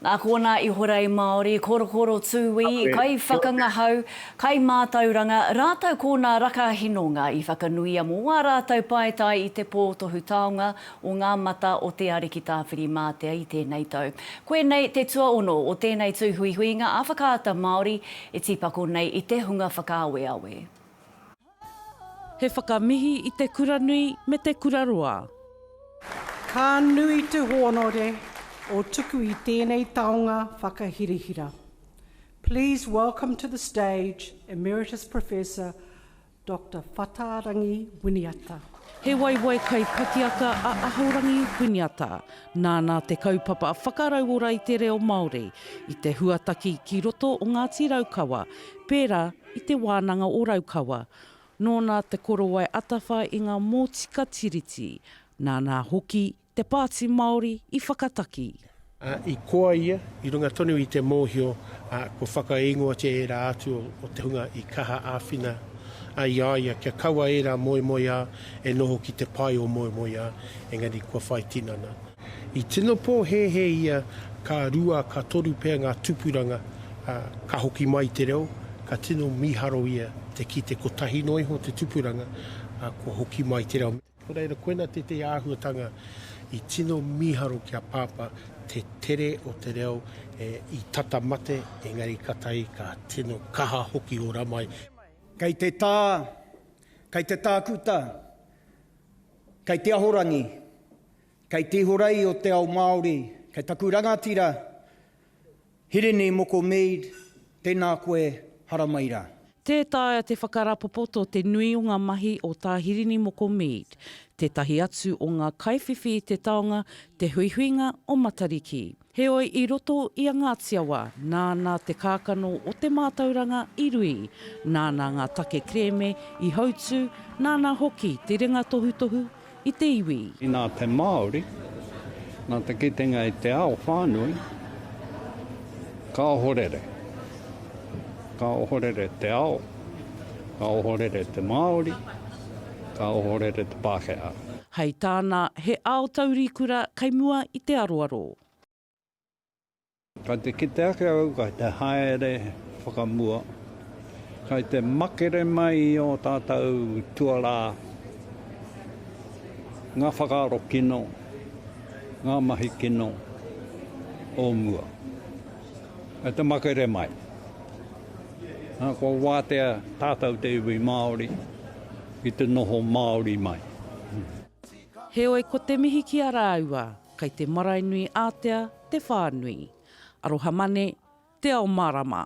Nā konā ihorei Māori, korokoro tūī, kaiwhakangahau, kaimātauranga, rātou ko nā raka hinonga i whakanuia mō ā rātou paetae i te pō tohu taonga o ngā mata o Te Ariki Tāwhirimātea i tēnei tau. Koinei te tuaono o tēnei tūhuihuinga ā-Whakaata Māori e tīpako nei i te hunga whakaaweawe. He whakamihi i te kura nui me te kura roa. Ka nui te hōnore o tuku i tēnei taonga whakahirahira. Please welcome to the stage Emeritus Professor Doctor Whatarangi Winiata. He waiwai kai pakiaka a Ahorangi Winiata. Nāna te kaupapa whakarauora i te reo Māori, i te huataki ki roto o Ngāti Raukawa, pērā i Te Wānanga o Raukawa. Nōna te korowai atawha i ngā mōtika Tiriti, nāna hoki te Pāti Māori i whakataki. I koa ia, i runga tonu i te mōhio kua whakaingoatia ērā atu o te hunga i kaha āwhina ai i a ia kia kaua ērā moemoeā E noho ki te pae o moemoeā, engari kua whai tinana. I tino pōhēhē ia ka rua, ka toru pea ngā tupuranga, ā, ka hoki mai te reo, ka tino mīharo ia te kite kotahi noa iho te tupuranga, ā, kua hoki mai te reo. Nō reira, koinā tētehi āhuatanga i tino mīharo ki a Pāpā, te tere o te reo i tata mate, engari ka tahi ka tino kaha hoki ora mai. Kei te tā, Kei te tākuta, kei te ahorangi, kei te ihorei o te ao Māori, kei taku rangatira Hirini Moko Mead, tēnā koe, haramai rā. Tē taea te whakarapopoto te nui o ngā mahi o Tā Hirini Moko Mead, tētahi atu o ngā kaiwhiwhi i te taonga, te huihuinga o Matariki. Heoi i roto i a Ngāti Awa, nāna te kākano o te mātauranga i rui, nāna ngā take kerēme i hautū, nāna hoki te ringa tohutohu i te iwi. Nā te Māori, nā te kitenga i te ao whānui, ka ohorere, ka ohorere te ao. Ka ohorere te Māori, ka ohorere te Pākehā. Hei tāna, he ao taurikura kei mua i te aroaro. Kei te kite ake au, kei te haere whakamua, kei te makere mai i ō tātou tuarā, ngā whakaaro kino, ngā mahi kino o mua. Kei te makere mai. Kua wātea tātou te iwi Māori ki te noho Māori mai. Heoi ko te mihi ki a rāua, kei te marae nui ātea te whānui. Aroha Mane, Te Ao Mārama.